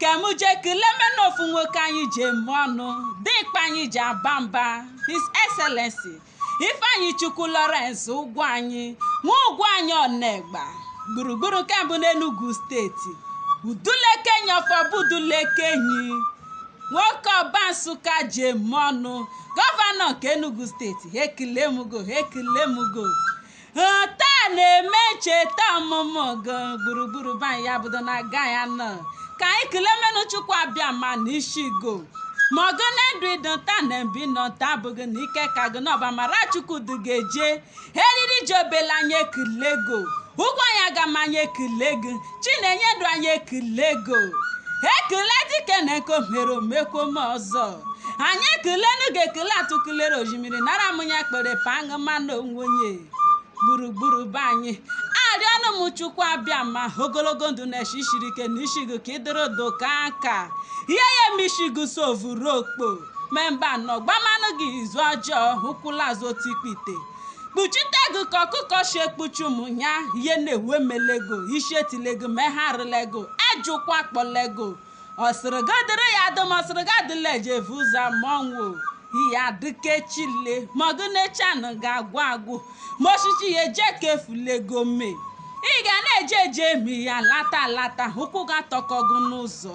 ka m jee kelemenu ofu nwoke anyị ji eme ọnụ dịkpa anyị ji aba mba his excellency ifeanyịchukwu lawrence ugwuanyị nwa ugwuanyị ọnegba gburugburu nke mbụ n'enugu steeti udulekenyi ọfọbudulekenyi nwoke ọba nsụka ji eme ọnụ gọvanọ nke enugu steeti ha ekele m go ha ekele m go taa na-eme ncheta ọmụmụ gị gburugburu be anyị ya bụdo na aga ya nọ ka anyị kelemenu chukwu abịama n'ishi go ma ọ gị na-edu ịdụ taa na mbe ị nọ taa abụghị na ike ka gị na ọ bụ amara chukwu du gị eje eriri ji obele anyị ekele go ugwuanyị agama anyị ekele gị chinenye dụ anyị ekele go ekele dike na nke o mere o mekwome ọzọ anyị ekelenu gị ekele atụkụlere ozhimiri nara m ya kpere paṅụ mmanụ onwe onye gburugburu be anyị arịọnụ m chukwu abịama ogologo ndụ na eshi shiri ike n'ishi gị ka ịdịrị do ka aka ihe ya eme ishi gị sovuru okpo memba nọ gbamanụ gị izu ọjọọ ụkwụ laa azụ otikpite kpuchite gị ka ọkụkọ shi ekpuchi ụmụ ya ihe na-ewe melego ishi etilego ma ha arịlego ajụkwa kpọlego ọ sịrị gị dịrị ya dụ ma ọ sịrị gị adịla eje evu ụzọ ma ọnwụ ihe adịkechile ma agụ na-echi anụ ga-agwụ agwụ ma oshichi ya eje ka efulego mee ị ga na-eje eje emi ya alata alata ụkwụ ga-atọkọ gị n'ụzọ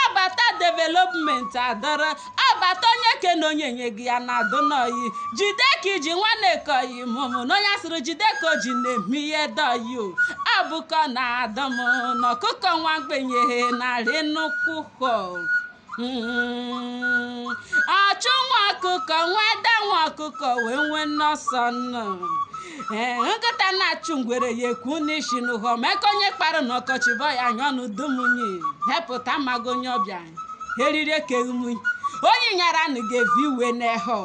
Ọ bata development adọrọ, ọ bata onye kene onye nye gị ya na-adụnụ ọyị. Jide ka i ji nwanne ka oyi mụmụ na onye asịrị jide ka o ji na-eme ihe dụ ọyị o. Ọ bụkọ na adọ m na ọkụkọ nwa mgbenye narị nnukwu hụ. Mm. Ọchụ nwa ọkụkọ nwe ada, nwa ọkụkọ nwe nwenwe ọsọ nnụ. ee nkịta na-achụ ngwere ya ekwu n'isi n'ụhọ ma nkụ onye kpara na ọkọchị bụ ya anyanụ udu munyi hepụta mago onye ọbịa eriri ekeghumunyi onye nyara nụ ga-evu iwe n'ehọ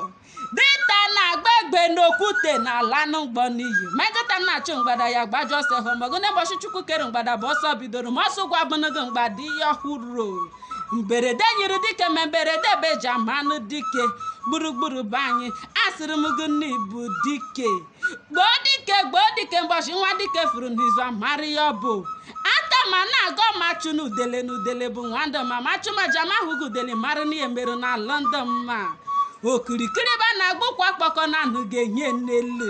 dinta na-agba egbe n'okwute na-alanụ mgbọ n'iyi ma nkịta na-achụ mgbada ya gbajọ ọsọ hụ magụ na ụbọchị chukwu kere mgbada bụ ọsọ bidoro ma ọsọ ụgwọ abụnụgo mgbada ihe ọhụrụ mberede nyiri dike ma mberede bụ eji amanụ dike gburugburu be anyị asịrị m gị na ị bụ dike gboo dike gboo dike mbọchị nwa dike furu n'izu amara ya ọ bụ atama na-agọ ma chụ na udele na udele bụ nwa ndụ ma ma achụma aja ma ahụghị udele mara na ihe mere na london ma okirikiri bụ a na-agba ukwu akpọkọ na anagụ enyi n'elu